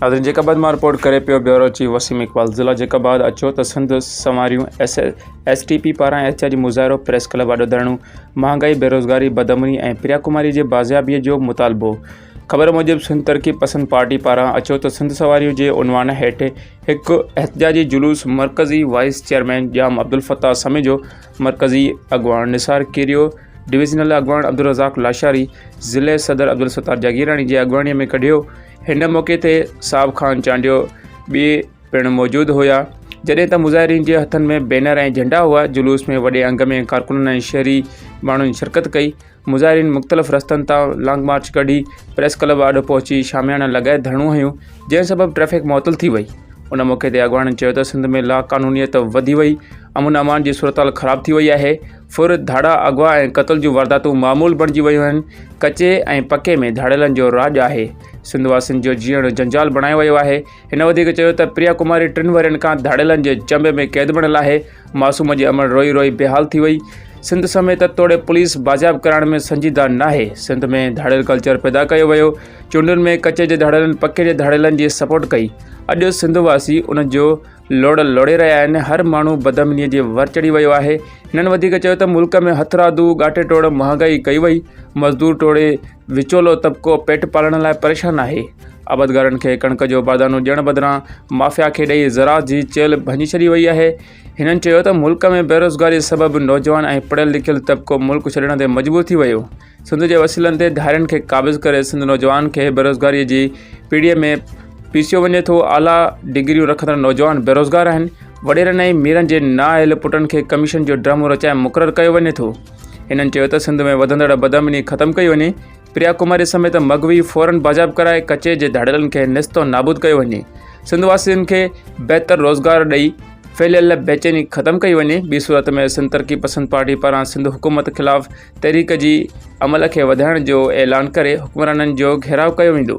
ناظرين جيڪب آباد مان رپورٽ ڪري پيو بيورو چيف وسيم اقبال ضلع جيڪب آباد اچو ته سنڌ سنواريون ايس ايس ٽي پي پاران احتجاجي مظاهرو پريس ڪلب آڏو ڌرڻو مهانگائي بيروزگاري بدامني ۽ پريا ڪماري جي بازيابي جو مطالبو خبر موجب سنڌ ترقي پسند پارٽي پاران اچو ته سنڌ سواريون جي عنوان هيٺ هڪ احتجاجي جلوس مرڪزي وائيس چيئرمين ڄام عبدالفتاح سميجو، مرڪزي اڳواڻ نثار ڪيريو، ڊويزنل اڳواڻ عبدالرزاق لاشاري، ضلعي صدر عبدالستار جاگيراڻي جي اڳواڻي ۾ ڪڍيو. هن موقعي تي صاحب خان چانڊيو ٻئي پڻ موجود هيا. جڏهن ته مظاهرين جي هٿن ۾ بينر ۽ جهنڊا هئا. جلوس ۾ وڏي انگ ۾ ڪارڪنن ۽ شهري ماڻهن شرڪت ڪئي. مظاهرين مختلف رستن تان لانگ مارچ ڪڍي پريس ڪلب آڏو پهچي شاميانا لڳائي ڌرڻو هنيو جنهن سبب ٽريفڪ معطل ٿي وئي ان موقعي تي اڳواڻن چيو ته سنڌ ۾ لاقانونيت وڌي وئي امن امان جي صورتحال خراب ٿي وئي آهي ڦر ڌاڙا اغوا ۽ قتل جون وارداتون معمول بڻجي ويون آهن ڪچي ۽ پڪي ۾ ڌاڙيلن جو راڄ آهي سنڌ واسين جو جيئڻ جنجال بڻايو ويو آهي هن وڌيڪ چيو ته پريا ڪماري ٽن ورهين کان ڌاڙيلن جي چنبي ۾ قيد بڻيل آهي، معصوم جي امڙ روئي روئي بيحال ٿي وئي، سنڌ سميت توڙي پوليس بازياب ڪرائڻ ۾ سنجيده ناهي، سنڌ ۾ ڌاڙيل ڪلچر پيدا ڪيو ويو، چونڊن ۾ ڪچي جي ڌاڙيلن پڪي جي ڌاڙيلن جي سپورٽ ڪئي، اڄ سنڌ واسي ان جو لوڙ لوڙي رهيا آهن، هر ماڻهو بدامنيء جي ور چڙهي ويو آهي، هنن وڌيڪ چيو ته ملڪ ۾ هٿرادو ڳاٽي ٽوڙ مهانگائي ڪئي وئي، مزدور ٽوڙي وچولو طبقو پيٽ پالڻ لاء پريشان آهي. آبادگارن کي ڪڻڪ جو بادانو ڏيڻ بدران مافيا کي ڏئي زراعت جي چيلهه ڀڃي ڇڏي وئي آهي. هنن چيو ته ملڪ ۾ بيروزگاري سبب نوجوان ۽ پڙهيل لکيل طبقو ملڪ ڇڏڻ تي مجبور ٿي ويو. سنڌ جي وسيلن تي ڌارين کي قابض ڪري سنڌ نوجوان کي بيروزگاري جي پيڙهي ۾ پيسيو وڃي ٿو. اعليٰ ڊگريون رکندڙ نوجوان بيروزگار آهن. وڏيرن ۽ ميرن جي نااهل پٽن کي ڪميشن جو ڊرامو رچائي مقرر ڪيو وڃي ٿو. هنن چيو ته سنڌ ۾ وڌندڙ بدامني ختم ڪئي وڃي. پريا ڪماري سميت مغوي فورن باجاب ڪرائي ڪچي جي ڌاڙيلن کي نست و نابود ڪيو وڃي سنڌ واسين کي بهتر روزگار ڏئي ڦهليل بيچيني ختم ڪئي وڃي ٻي صورت ۾ سنڌ ترقي پسند پارٽي پاران سنڌ حڪومت خلاف تحريڪ جي عمل کي وڌائڻ جو اعلان ڪري حڪمرانن جو گهيراء ڪيو ويندو